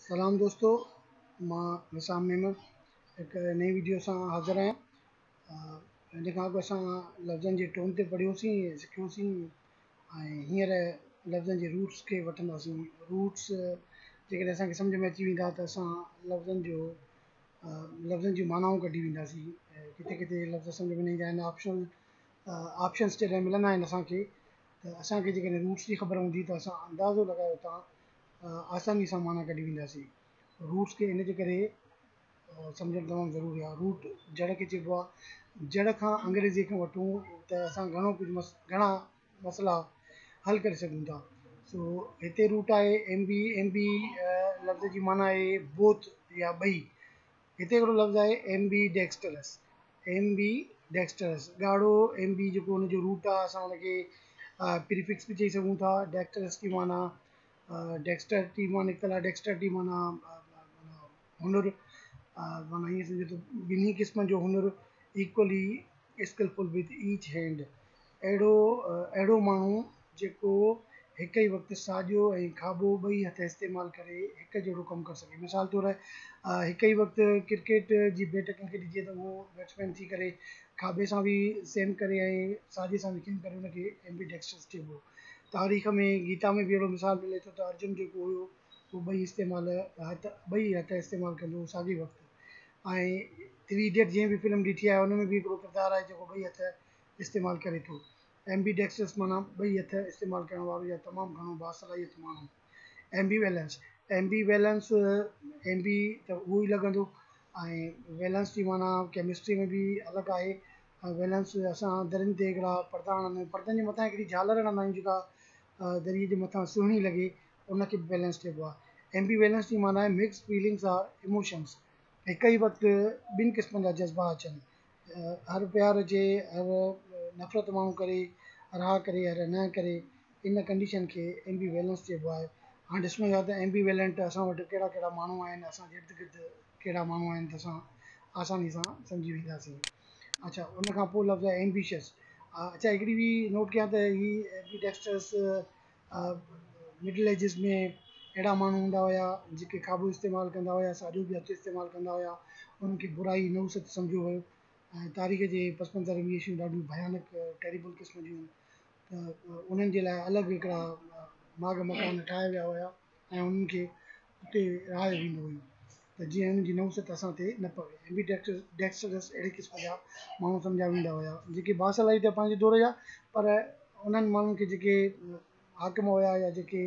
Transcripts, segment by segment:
سلام دوستو مان نسام ميمڻ هڪ نئين ويڊيو سان حاضر آهيان ان کان اڳ اسان لفظن جي ٽون تي پڙهيوسين سکيوسين ۽ هينئر لفظن جي روٽس کي وٺنداسين روٽس جيڪڏهن اسان کي سمجھ ۾ اچي ويندا ته اسان لفظن جو لفظن جون معنائون ڪڍي وينداسين ڪٿي ڪٿي لفظ سمجھ ۾ نه ايندا آهن آپشنل آپشنس جڏهن ملندا آهن اسان کي ته اسان کي جيڪڏهن روٽس جي خبر هوندي ته اسان اندازو لڳايو تان آساني سان معنيٰ ڪڍي وينداسين. روٽس کي ان جي ڪري سمجهڻ تمام ضروري آهي. روٽ جڙ کي چئبو آهي. جڙ کان انگريزيء کان وٺون ته اسان گهڻو ڪجهه مس گهڻا مسئلا حل ڪري سگهون ٿا. سو هتي روٽ آهي MB MB لفظ جي معنيٰ آهي Both يا ٻئي. هتي هڪڙو لفظ آهي MB Dexterous MB Dexterous ڳاڙهو MB جيڪو ان جو روٽ آهي اسان ان کي Prefix به چئي سگهون ٿا Dexterous جي معنيٰ ڊيڪسٽر ٽي مان نڪتل آهي ڊيڪسٽر ٽي معنيٰ هنر معنيٰ ائين سمجهو ته ٻنهي قسمن جو هنر equally skilful with each hand اهڙو اهڙو ماڻهو جيڪو هڪ ئي وقت ساڄو ۽ کاٻو ٻئي هٿ استعمال ڪري هڪ جهڙو ڪم ڪري سگهي مثال طور هڪ ئي وقت ڪرڪيٽ جي بيٽ ڪنهن کي ڏجي ته هو بيٽسمين ٿي ڪري کاٻي سان به سئم ڪري ۽ ساڄي سان به سئم ڪري ان کي ايمبي ڊيڪسٽرس چئبو تاريخ ۾ گيتا ۾ به اهڙو مثال ملي ٿو ته ارجن جيڪو هيو اهو ٻئي استعمال هٿ ٻئي هٿ استعمال ڪندو هو ساڳئي وقت ۽ ٿري ايڊيٽ جنهن به فلم ڏٺي آهي ان ۾ به هڪڙو ڪردار آهي جيڪو ٻئي هٿ استعمال ڪري ٿو ايمبي ڊيڪسٽرس معنيٰ ٻئي هٿ استعمال ڪرڻ وارو يا تمام گهڻو باصلاحيت ماڻهو. ايمبيولينس Ambivellence ايمبي ته اهو ئي لڳندو ۽ ويلنس جي معنيٰ ڪيمسٽري ۾ به الڳ آهي ۽ ويلنس اسان درين تي هڪڙا پردا هڻندا آهيون پردن جي مٿان هڪڙي جهالر هڻندا آهيون جيڪا دريء جي مٿان سهڻي لڳي ان کي به ويلنس چئبو آهي Ambivellence جي معنيٰ آهي Mixed Feelings or Emotions هڪ ئي وقت ٻن قسمن جا جذبا اچن هر پيار جي هر نفرت ماڻهو ڪري رها ڪري هر نه ڪري ان ڪنڊيشن کي ايمبي ويلنس چئبو آهي هاڻي ڏسڻو اهي آهي ته ايمبي ويلنٽ اسان وٽ ڪهڙا ڪهڙا ماڻهو آهن اسان جي ارد گرد ڪهڙا ماڻهو آهن ته اسان آساني سان سمجهي وينداسين اڇا ان کان پوء لفظ ايمبيشس اڇا هڪڙي ٻي نوٽ ڪيان ته هي ايمبي ڊيڪسٽرس مڊل ايجز ۾ اهڙا ماڻهو هوندا هيا جيڪي قابو استعمال ڪندا هيا ساڄو به هٿ استعمال ڪندا هيا انهن کي برائي نحوست سمجهيو ويو ۽ تاريخ جي پس منظر ۾ اهي شيون ڏاڍيون ڀيانڪ ٽيريبل قسم جون هيون ته انهن جي لاء الڳ هڪڙا ماڳ مڪان ٺاهيا ويا هيا ۽ انهن کي اتي رايو ويندو هيو ته جيئن هن جي نحوست اسان تي نه پوي. ايمبيڊيڪسڊس اهڙي قسم جا ماڻهو سمجهيا ويندا هيا جيڪي باصلاحيت هيا پنهنجي دور جا پر انهن ماڻهن کي جيڪي حاڪم هيا يا جيڪي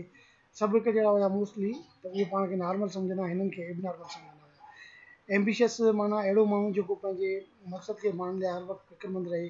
سڀ هڪ جهڙا هيا موسٽلي ته اهي پاڻ کي نارمل سمجهندا هنن کي ايبنارمل سمجهندا هيا. ايمبيشس معنيٰ اهڙو ماڻهو جيڪو پنهنجي مقصد کي ماڻڻ لاء هر وقت فڪرمند رهي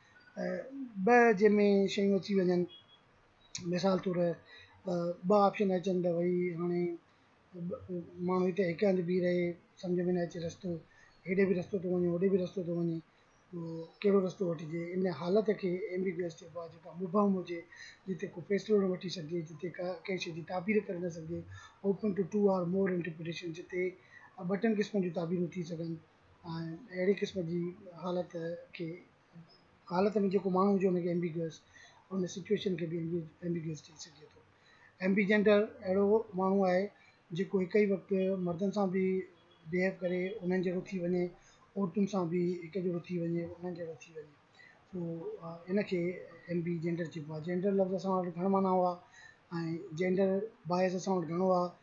ٻه جنهن ۾ شيون اچي وڃن مثال طور ٻه آپشن اچن ته ڀئي هاڻي ماڻهو هتي هڪ هنڌ بيهي رهي سمجھ ۾ نه اچي رستو هيڏي به رستو ٿو وڃي هوڏي به رستو ٿو وڃي ڪهڙو رستو وٺجي ان حالت کي ايمبيگوئس چئبو آهي جيڪا مبهم هجي جتي ڪو فيصلو نه وٺي سگهجي جتي ڪا ڪنهن شيء جي تعبير ڪري نه سگهجي open to two or more interpretation جتي ٻه ٽن قسمن جون تعبيرون ٿي سگهن اهڙي قسم جي حالت کي حالت ۾ جيڪو ماڻهو هجي ان کي ايمبيگوئس ان سچوئيشن کي به ايمبيگوئس چئي سگهجي ٿو ايمبي جينڊر اهڙو ماڻهو آهي جيڪو هڪ ئي وقت مردن سان به بيهيو ڪري انهن جهڙو ٿي وڃي عورتن سان به هڪ جهڙو ٿي وڃي انهن جهڙو ٿي وڃي سو ان کي ايمبي جينڊر چئبو آهي جينڊر لفظ اسان وٽ گهڻ معنيٰ هئا ۽ جينڊر باعث اسان وٽ گهڻو آهي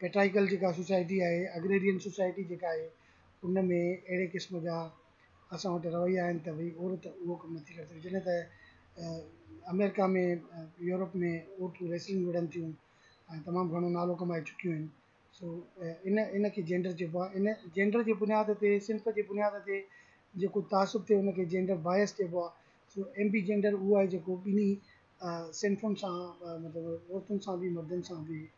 ڪيٽائيڪل جيڪا سوسائٽي آهي اگريرين سوسائٽي جيڪا آهي ان ۾ اهڙي قسم جا اسان وٽ رويا آهن ته بھي عورت اهو ڪم نٿي ڪري سگھي جڏهن ته امريڪا ۾ يورپ ۾ عورتون ريسلنگ وڙهن ٿيون ۽ تمام گھڻو نالو ڪمائي چڪيون آهن سو ان ان کي جينڊر چئبو آهي ان جينڊر جي بنياد تي صنف جي بنياد تي جيڪو تعصب ٿئي ان کي جينڊر بايس چئبو آهي سو ايم بي جينڊر اهو آهي جيڪو ٻنهي صنفن سان مطلب عورتن سان بي مردن سان بي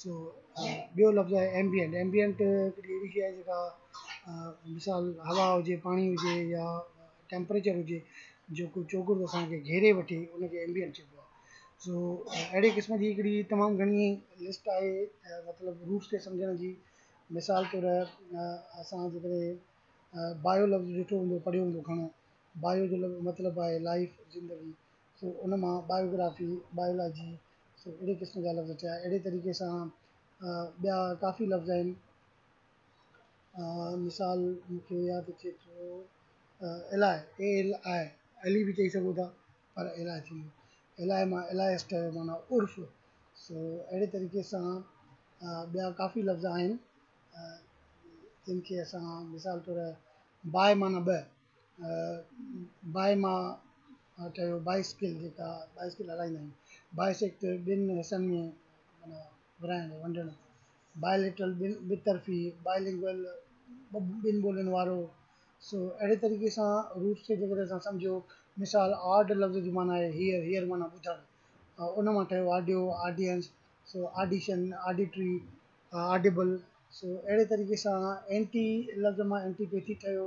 سو ٻيو لفظ آهي ايمبيئنٽ ايمبيئنٽ هڪڙي اهڙي شيء آهي جيڪا مثال هوا هجي پاڻي هجي يا ٽيمپريچر هجي جيڪو چوگرد اسان کي گهيري وٺي ان کي ايمبيئنٽ چئبو آهي سو اهڙي قسم جي هڪڙي تمام گهڻي لسٽ آهي مطلب روٽس کي سمجهڻ جي مثال طور اسان جيڪڏهن بايو لفظ ڏٺو هوندو پڙهيو هوندو گهڻو بايو جو مطلب آهي لائف زندگي سو ان مان بايوگرافي، بائيولاجي، سو اهڙي قسم جا لفظ ٺهيا. اهڙي طريقي سان ٻيا ڪافي لفظ آهن. مثال مون کي ياد اچي ٿو ايلائي، اي ايل آء، علي به چئي سگهو ٿا پر ايلائي ٿيندو. ايلائي مان ايلائيسٽ جو معنيٰ عرف. سو اهڙي طريقي سان ٻيا ڪافي لفظ آهن جن کي اسان مثال طور باء معنيٰ ٻه، باء مان آء چيو بائيسڪل جيڪا بائيسڪل هلائيندا آهن بائيسيڪٽ ٻن حصن ۾ معنيٰ ورهائڻ ونڊڻ بائيليٽرل ٻن ٻه طرفي بائيلنگول ٻن ٻولين وارو سو اهڙي طريقي سان روٽس کي جيڪڏهن اسان سمجهيو مثال آڊ لفظ جي معنيٰ آهي هيئر هيئر معنيٰ ٻڌڻ ان مان ٺهيو آڊيو آڊينس سو آڊيشن آڊيٽري آڊيبل سو اهڙي طريقي سان اينٽي لفظ مان اينٽي پيٿي ٺهيو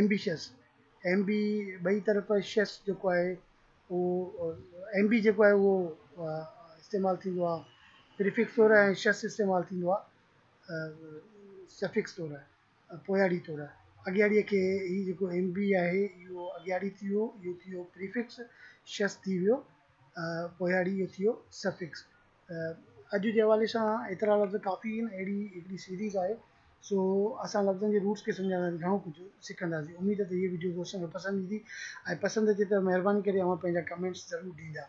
Ambitious ايم بي ٻئي طرف شيس جيڪو آهي اهو ايم بي جيڪو آهي اهو استعمال ٿيندو آهي پريفڪس طور ۽ شيس استعمال ٿيندو آهي سفڪس طور پوياڙي طور اڳياڙيء کي هي جيڪو ايم بي آهي اهو اڳياڙي ٿي ويو اهو ٿي ويو پريفڪس شيس ٿي ويو پوياڙي اهو ٿي ويو سفڪس اڄ جي حوالي سان ايترا لفظ ڪافي آهن اهڙي هڪڙي سيريز آهي سو اسان لفظن جي روٽس کي سمجهڻ ۾ گهڻو ڪجهه سکنداسين اميد ته هي وڊيو دوستن کي پسند ايندي ۽ پسند اچي ته مهرباني ڪري اوهان پنهنجا ڪمينٽس ضرور ڏيندا